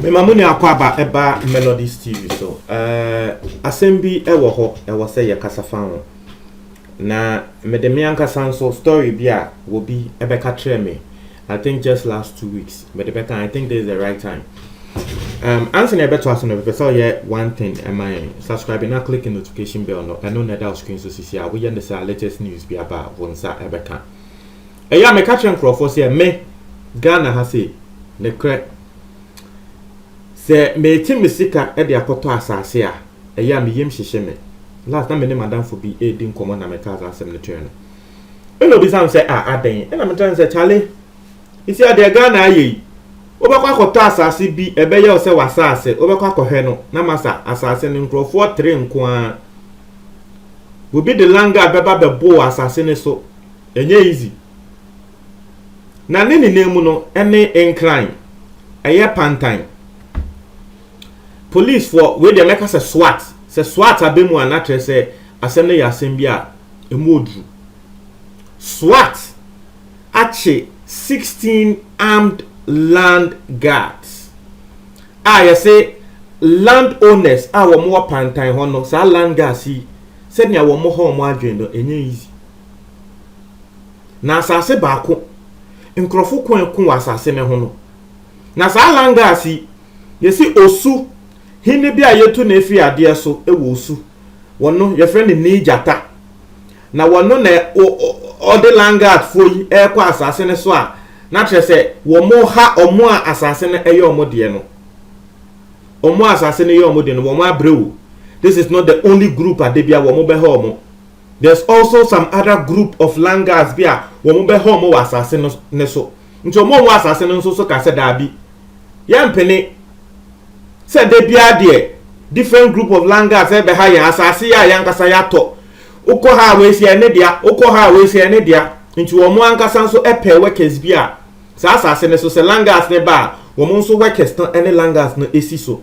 mema mo nua akɔ aba ɛba melodies tv so uh, asɛm bi ɛwɔ hɔ ɛwɔ sɛ yɛkasa fa ho na mede me ankasa nso story bi a wɔbi ɛbɛka kyerɛ me I think just last two weeks but the better I think this is the right time um ansa na ɛbɛto aso no bɛpɛ sɛ ɔyɛ one thing ɛma yɛn subscribe na click the notification bell no ɛno na ɛda screen so sisi a woyɛ ne saa latest news bi aba a wɔn nsa ɛbɛka ɛyɛ a meka kyerɛ nkurɔfoɔ sɛ me ghana ha sei ne korɛ sɛ meti me sika de akɔtɔ asase a ɛyɛ a meyam hyehye me last na me ne madamfo bi ɛredi nkɔmmɔ na meka saa asɛm no kyerɛ no Ɛna obisa me sɛ, Ah, adɛn? Ɛna me kyerɛ no sɛ, Kyale, sesia deɛ Ghana ayɛ yi, wobɛkɔ akɔtɔ asase bi, ɛbɛyɛ wo sɛ w'asase, wobɛkɔ akɔhwɛ no, na masa asase no nkurɔfoɔ tere nko ara. Obi de langa bɛba bɛboo asase no so, ɛnyɛ easy. Na ne nyinaa mu no, ɛne nkran, ɛyɛ pantan. Policefoɔ, wei deɛ mɛka sɛ SWAT, sɛ SWAT abɛ mu a na kyerɛ sɛ asɛm no yɛ asɛm bi a ɛmu oduru. SWAT akye sixteen armed land guards a yɛse land owners a wɔn wɔ pantan hɔ no saa land guards yi sɛnea wɔn hɔ wɔn adwene no ɛnyɛ easy. Na asase baako nkurɔfo ko ɛko wɔ asase no ho no na saa land guards yi yɛse osu Hene bi a yɛtu no firi adeɛ so wɔ Osu. Wɔno, yɛfrɛ no Nii Gyata. Na wɔno na ɔde Langat foɔ yi rekɔ asase no so a na kyerɛ sɛ wɔha wɔn a asase no yɛ wɔn deɛ no. Wɔn a asase no yɛ wɔn deɛ no, wɔn abrɛ o. This is not the only group a da bi a wɔn bɛha wɔn. There's also some other group of Langats bi a wɔn bɛha wɔn wɔ asase no so. Nti ɔmo a ɔwɔ asase no nso so ka sɛ daabi, yɛmpene sɛ da biara deɛ different group of langas ɛrebɛha yɛn, asase yi a yɛn ankasa yɛatɔ, wokɔ ha a wei sɛ ɛne dea, wokɔ ha a wei sɛ ɛne dea. Nti ɔmo ankasa nso pɛɛ workers bi a saa asase no so sɛ langas no ba a, ɔmo nso workers no ne langas no si so,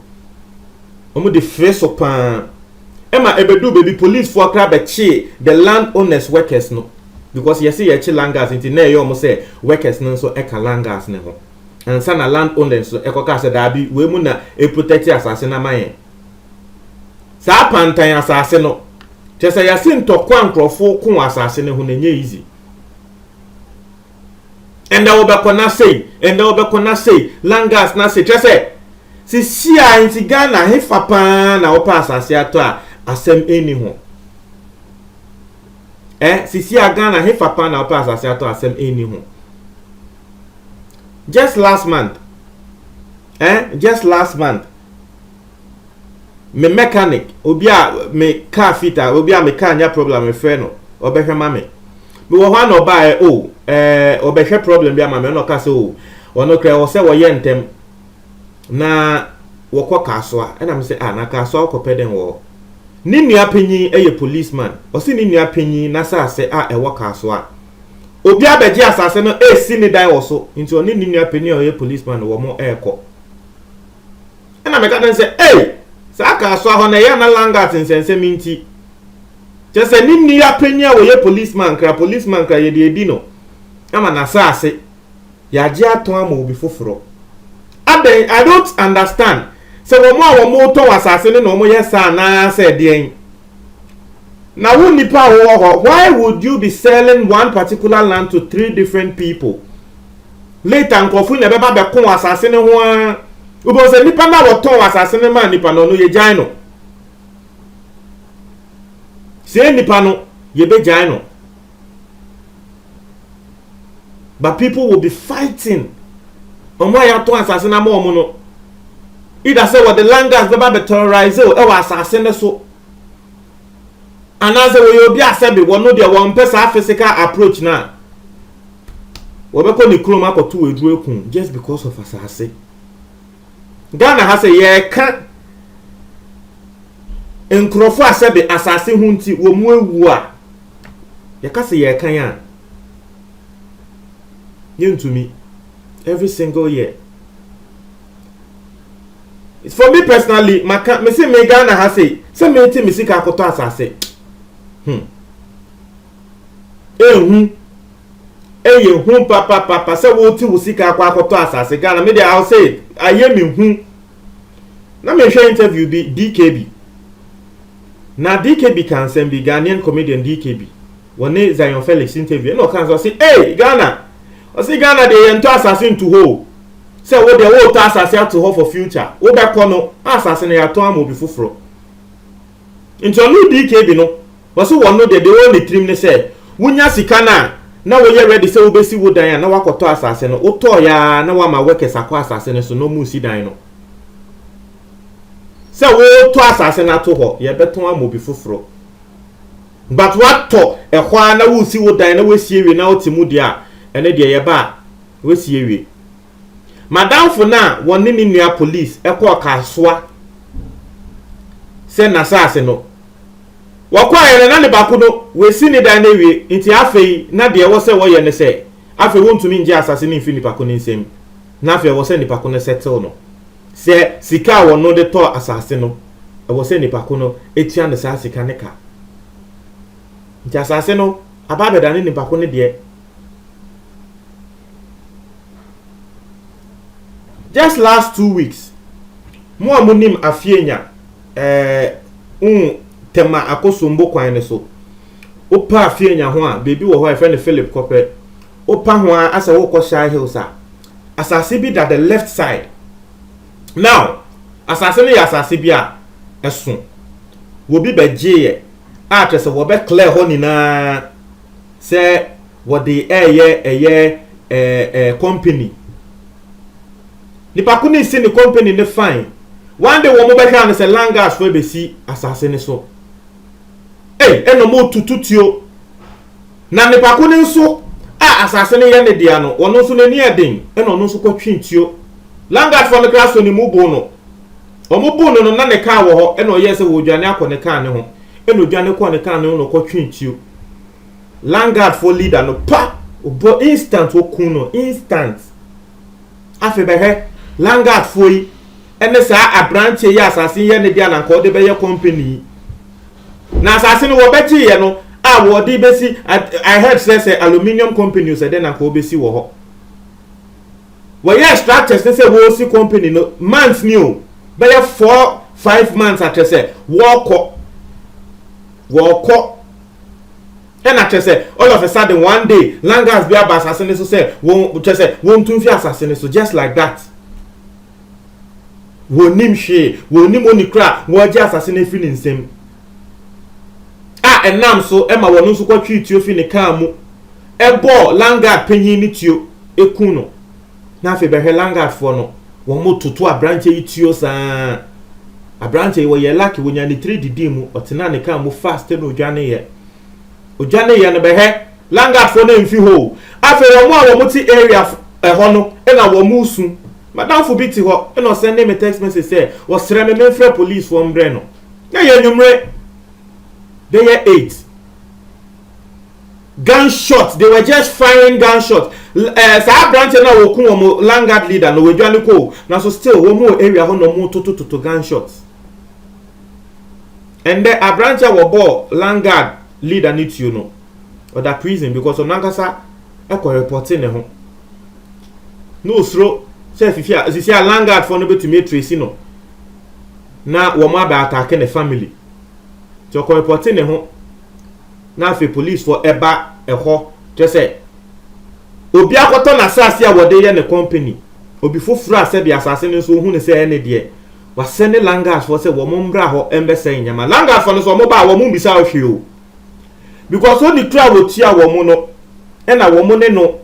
ɔmo de fre so paa. ɛma ɛbɛduu baabi policefoɔ koraa bɛkyee the land owners workers no because yɛse yɛkye langas nti na ɛyɛ wɔn sɛ workers no nso ɛka langas no ho ansa na land owners no ɛkɔkaa sɛ daabi wei mu na ɛprotɛkte asase no ama yɛn saa pantan asase no kyɛ sɛ yɛse ntɔkwa nkurɔfoɔ ko asase no ho na ɛnyɛ easy ɛnɛ wobɛkɔ na sei ɛnɛ wobɛkɔ na sei langas na sei kyerɛ sɛ sisi a nti ghana hefa paa na wopɛ asase atɔ a asɛm ɛni ho ɛ sisi a ghana hefa paa na wopɛ asase atɔ asɛm ɛni ho just last month eh just last month me mechanic obi a me car fit a obi a me car nya problem mefrɛ no ɔbɛhwɛ ma me mewɔ hɔ a na ɔbaeɛ o oh, ɛɛ eh, ɔbɛhwɛ problem bi ama me ɔna ɔka sɛ o oh, ɔno korɛ wɔ sɛ wɔyɛ ntɛm na wɔkɔ kaasoa ɛna me sɛ a ah, na kaasoa wokɔpɛ dɛn wɔ hɔ ne nua panyin yɛ policeman ɔsi ne nua panyin n'asase a ɛwɔ kaasoa obi abɛgye asase no esi ne dan wɔ so nti ɔne ne nua panyin a ɔyɛ policeman wɔ mo ɛɛkɔ ɛna meka kyerɛ no sɛ ei saa kaasoa hɔ no ɛyɛ na langat nsɛnsɛm nti kyɛ sɛ ne nni apanyin a wɔyɛ policeman kra policeman kra yɛde adi no ama n'asaase yɛagye atɔn ama obi foforɔ adɛn i don't understand sɛ wɔn a wɔn tɔn asaase no na wɔn yɛ saa anaasɛ deɛn na wo nipa a wɔwɔ hɔ why would you be selling one particular land to three different people Later nkurɔfo na ɛbɛba bɛko asase no ho ara. Wobɛhu sɛ nnipa no a wɔtɔn asase no maa nnipa no, ɔno yɛgyae no. Sɛ yɛ nnipa no, yɛbɛgyae no. But people will be fighting. Wɔn a yɛatɔn asase no ama wɔn no, either sɛ wɔde land gas bɛba bɛterrorise ɛwɔ asase no so. anaasɛ wɔyɛ obi a sɛbe wɔn no deɛ wɔmpɛ saa physical approach no a wɔbɛkɔ ne kurom akɔto aduro aku just because of asase ghana ha sɛ yɛreka nkurɔfoɔ a sɛbe asase ho nti wɔn mu awuo a yɛka sɛ yɛreka yɛn a yɛntumi every single year for me personally maka me se me Ghana ha sei sɛ mete me sika akɔtɔ asase hmm ehu eye hu papa papa sɛ wote wo sika akɔ akɔtɔ asase Ghana me de I'll say it ayɛ me hu na mehwɛ interview bi DKB na DKB ka nsɛm bi Ghanaian comedian DKB wɔne zion felix interview ɛna ɔka sɛ ɔse ei ghana ɔse ghana deɛ yɛntɔ asase nto hɔ o sɛ wo deɛ wotɔ asase ato hɔ for future wobɛkɔ no asase no yɛatɔn ama obi foforɔ nti ɔno dkb no wɔse wɔn no deɛ deɛ wɔwɔ ne tirim ne sɛ wonya sika no a na woyɛ ready sɛ wobɛsi wo dan a na wakɔtɔ asase no wotɔɔ yɛa na wama workers akɔ asase no so na ɔmu si dan no sɛ wotɔ asase no ato hɔ yɛbɛtɔn ama obi foforɔ But watɔ ɛhɔ ara na woresi wo dan na woasi awie na wote mu deɛ a, ɛno deɛ yɛba a, woasi awie. M'adamfo no a wɔne ne nua police kɔɔ Kasoa sɛ n'asaase no, wɔkɔeɛ no na ne baako no, wasi ne dan no awie nti afei na deɛ ɛwɔ sɛ wɔyɛ ne sɛ afei wontumi ngye asase no mfiri nipa ko no nsam na afei ɛwɔ sɛ nipa ko no settle no. Sɛ sika a wɔno de tɔɔ asase no, ɛwɔ sɛ nipa ko no tua no saa sika no ka. Nti asase no aba abɛdane nipa ko no deɛ. Just last two weeks, mo a monim Afeanya eh, un, Tema Akosombo kwan no so, wopa Afeanya ho a, baabi wɔ hɔ a yɛfrɛ no Philip Kɔpɛ, wopa ho a asɛ wokɔ Shire Hills a, asase bi da the left side now asase no yɛ asase bi a ɛso wɔbi bɛgyeeɛ a kyerɛ sɛ wɔbɛ clear hɔ nyinaa sɛ wɔde ɛyɛ ɛyɛ ɛɛ company nipa ko ne si ne company ne fine one day wɔn bɛhwɛ ano sɛ langas fo ɛbɛsi asase no so ɛy ɛna wɔn tututuo. Na nnipa ko no nso a asase no yɛ ne dea no, ɔno nso n'ani yɛ den, ɛnna ɔno nso kɔtwee tuo. Landguardfoɔ no koraa sɔɔ ne mu boo no. Wɔboo no no, na ne kaa wɔ hɔ, ɛnna ɔyɛɛ sɛ ɔredwane akɔ ne kaa no ho, ɛnna ɔdwane kɔɔ ne kaa no ho na ɔkɔtwee tuo. Landguardfoɔ leader no, pa! Ɔbɔ instant ɔkuu no, instant. Afei bɛhwɛ, landguardfoɔ yi ne saa aberanteɛ yi a asase yi yɛ ne dea na anka ɔde bɛyɛ company yi. Na asase no wɔbɛgye yɛ no a wɔde bɛsi at I heard sɛ sɛ aluminium companies ɛdɛ na nka wɔbɛsi wɔ hɔ wɔyɛɛ structures no sɛ wɔresi company no months ni o bɛyɛ four five months akyɛ sɛ wɔrekɔ wɔrekɔ ɛna kyɛ sɛ all of a sudden one day langas bi aba asase no so sɛ wɔn kyɛ sɛ wɔntu mfi asase no so just like that. wɔnnim hwee wɔnnim oni kora a wɔagye asase no afiri ne nsam a ɛnam so ma wɔn nso kɔtwee tuo fi ne kaa mu ɛbɔɔ langard panyin ne tuo ɛku no na afei bɛhwɛ langardfoɔ no wɔn toto aberanteɛ yi tuo saa aberanteɛ yi wɔyɛ lake wɔnya ne tiri didi mu ɔtena ne kaa mu fast na ɔdwaneeɛ Ogya ne yɛ no bɛhɛ langard foɔ no mfi hɔ o afei wɔn a wɔn te area ɛhɔ no na wɔn resu madamfo bi te hɔ na ɔsɛnde me text message sɛ ɔsrɛ me memfrɛ police foɔ mbrɛ no na yɛ nwumere bɛyɛ eight gunshot they were just firing gunshot ɛɛ eh, saa aberanteɛ no a wɔku wɔn langard leader no wɔadwa ne kɔ o nanso still wɔn wɔ area hɔ na wɔn totototo gunshot. Ɛndɛ aberantsɛ a wɔbɔɔ Landguard leader ne tuo no, ɔda prison because ɔno ankasa kɔ repɔtee ne ho na osuro sɛ fifi a sisi a Landguard foɔ no bɛtumi atresi no na wɔn abɛ atake ne family. Nti ɔkɔ repɔtee ne ho na afei police foɔ ɛba ɛhɔ kyerɛ sɛ obi akɔtɔ n'asase a wɔde yɛ ne company obi foforɔ a sɛbi asase no nso ohunu sɛ ɛne deɛ Wasɛnde Langas foɔ sɛ wɔn mmra hɔ mbɛsɛe nneɛma. Langas foɔ no nso wɔn baa wɔn mbisaa hɔ hwee o. Because ɔni kura a wɔtua wɔn no ɛna wɔn ne no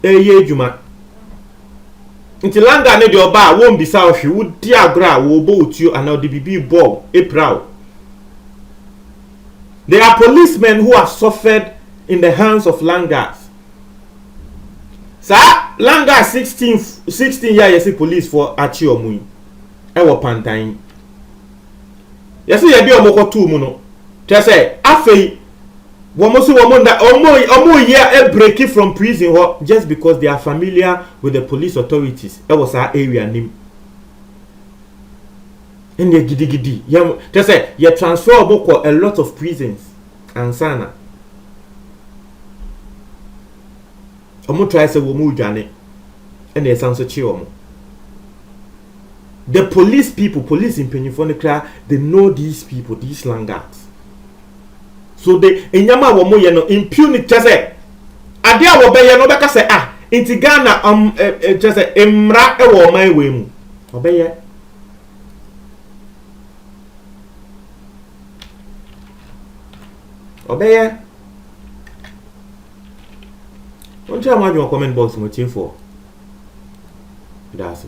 ɛɛyɛ adwuma. Nti Langas no deɛ ɔbaa a wɔmbisaa hɔ hwee. Wodi agorɔ a wɔɔbɔ wo tuo anaa ɔde biribi rebɔ wo epira wo. There are policemen who have suffered in the hands of Langas. Saa Langas 16 16 yɛ a yɛse police foɔ akye wɔn yi. wɔ pantan yi. Yɛsɛ yɛde wɔn kɔtoo mu no, kyerɛ sɛ afei wɔn so wɔn nda wɔn wɔn yɛ abireki from prison hɔ just because they are familiar with the police authorities wɔ saa area nim. Ɛnna gidigidi yɛn kyerɛ sɛ yɛ transfer wɔn kɔ a lot of prisons ansana. Wɔn trae sɛ wɔn redwane ɛna ɛsan so kye wɔn. The police people, police mpanyinfoɔ no koraa, they know these people, these slangouts. So the nneɛma a wɔn yɛ no impunity kyɛ sɛ adeɛ a wɔbɛyɛ no wɔbɛka sɛ ah nti Ghana um, eh, eh, kyɛ sɛ mmara wɔ ɔman wei mu wɔbɛyɛ. Wɔbɛyɛ. Monkyerɛ mo adwene wɔ comment box mu atiefoɔ. Ɛda ase.